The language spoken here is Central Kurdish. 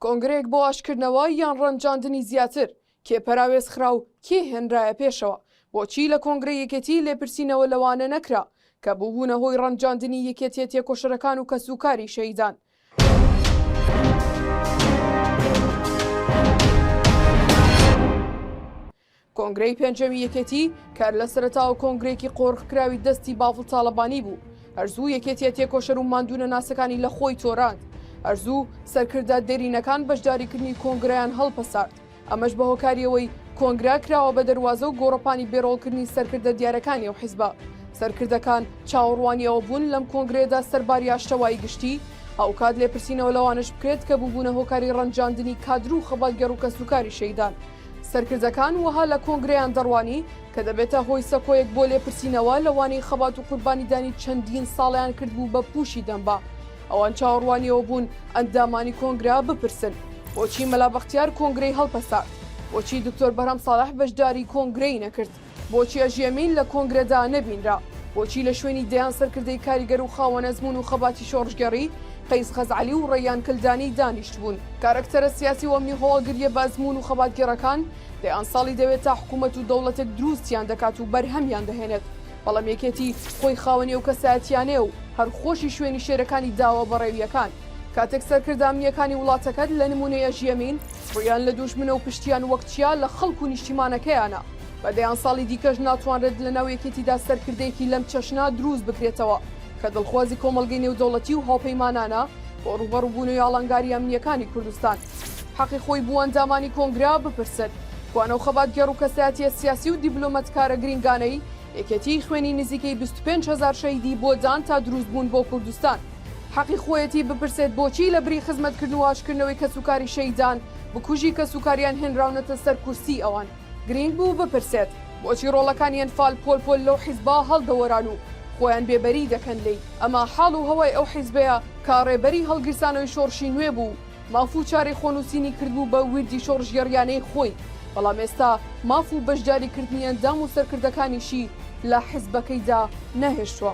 کۆنگرەیەک بۆ ئاشکردنەوە یان ڕەنجاندنی زیاتر، کێ پەراوێزخرا و کێ هێنرایە پێشەوە؟ بۆچی لە کۆنگرەی یەکێتی لێپرسینەوە لەوانە نەکرا کە بووبوونە هۆی ڕەنجاندنی یەکێتیە تێکۆشەرەکان و کەسوکاری شەهیدان؟ کۆنگرەی پێنجەمی یەکێتی کە لە سەرەتاوە کۆنگرەیەکی قۆرخکراوی دەستی باڤڵ تاڵەبانی بوو، هەرزوو یەکێتیە تێکۆشەر و ماندوونەناسەکانی لە خۆی تۆراند، هەرزوو سەرکردە دێرینەکان بەشداریکردنی کۆنگرەیان هەڵپەسارد، ئەمەش بە هۆکاری ئەوەی کۆنگرە کراوە بە دەروازە و گۆڕەپانی بێرۆڵکردنی سەرکردە دیارەکانی ئەو حیزبە. سەرکردەکان چاوەڕوانی ئەوە بوون لەم کۆنگرەیەدا سەرباری ئاشتەوایی گشتی، هاوکات لێپرسینەوە لەوانەش بکرێت کە بووبوونە هۆکاری ڕەنجاندنی کادر و خەباتگێڕ و کەسوکاری شەیدان، سەرکردەکان وەها لە کۆنگرەیان دەڕوانی کە دەبێتە هۆی سەکۆیەک بۆ لێپرسینەوە لەوانەی خەبات و قوربانیدانی چەندین ساڵیان کردبوو بە پووشی دەمبا. ئەوان چاوەڕوانیەوە بوون ئەندامانی کۆنگرە بپرسن، بۆچی مەلا بەختیار کۆنگرەی هەڵپەسارد؟ بۆچی دکتۆر بەرهەم ساڵح بەشداری کۆنگرەی نەکرد؟ بۆچیە ژێمین لە کۆنگرەدا نەبینرا؟ بۆچی لە شوێنی دەیان سەرکردەی کاریگەر و خاوەن ئەزموون و خەباتی شۆڕشگێڕی، قەیس خەزعەلی و ڕەیان کلدانی دانیشتبوون؟ کارەکتەرە سیاسی و ئەمنی هەواڵگرییە بە ئەزموون و خەباتگێڕەکان، دەیان ساڵی دەوێت تا حکوومەت و دەوڵەتێک درووستیان دەکات و بەرهەمیان دەهێنێت، بەڵام یەکێتی خۆی خاوەنی ئەو کەسایەتییانەیە و هەر خۆشی شوێنی شێرەکانی داوە بە ڕێوییەکان. کاتێک سەرکردە ئەمنییەکانی وڵاتەکەت، لە نموونەی ئەژێمین، ڕوویان لە دووژمنە و پشتیان وەک چیا لە خەڵک و نیشتیمانەکەیانە، بە دەیان ساڵی دیکەش ناتوانرێت لەناو یەکێتیدا سەرکردەیەکی لەم چەشنە دروست بکرێتەوە کە دڵخوازی کۆمەڵگەی نێودەوڵەتی و هاوپەیمانانە بۆ ڕووبەڕووبوونەوەی ئاڵنگاری ئەمنییەکانی کوردستان. حەقی خۆی بوو ئەندامانی کۆنگرە بپرسن کوان ئەو خەباتگێڕ و کەسایەتییە سیاسی و دیبلۆمەتکارە گرینگانەی یەکێتیی خوێنی نزیکەی بیست و پێنج هەزار شەهیدی بۆ دان تا دروست بوون بۆ کوردستان. حەقی خۆیەتی بپرسێت بۆچی لە بری خزمەتکردن و ئاشتکردنەوەی کەسوکاری شەهیدان، بکوژی کەسوکاریان هێنراونەتە سەر کورسیی ئەوان. گرینگ بوو بپرسێت بۆچی ڕۆڵەکانی ئەنفال پۆل پۆل لەو حیزبە هەڵدەوەران و خۆیان بێ بەری دەکەن لێی، ئەمە حاڵ و هەوای ئەو حیزبەیە کە ڕێبەری هەڵگیرسانەوەی شۆڕشی نوێ بوو و ماف و چارەی خۆنووسینی کردبوو بە ویردی شۆڕشگێڕییانەی خۆی، بەڵام ئێستا ماف و بەشداری کردنی ئەندام و سەرکردەکانیشی لە حیزبەکەیدا نەهێشتووە.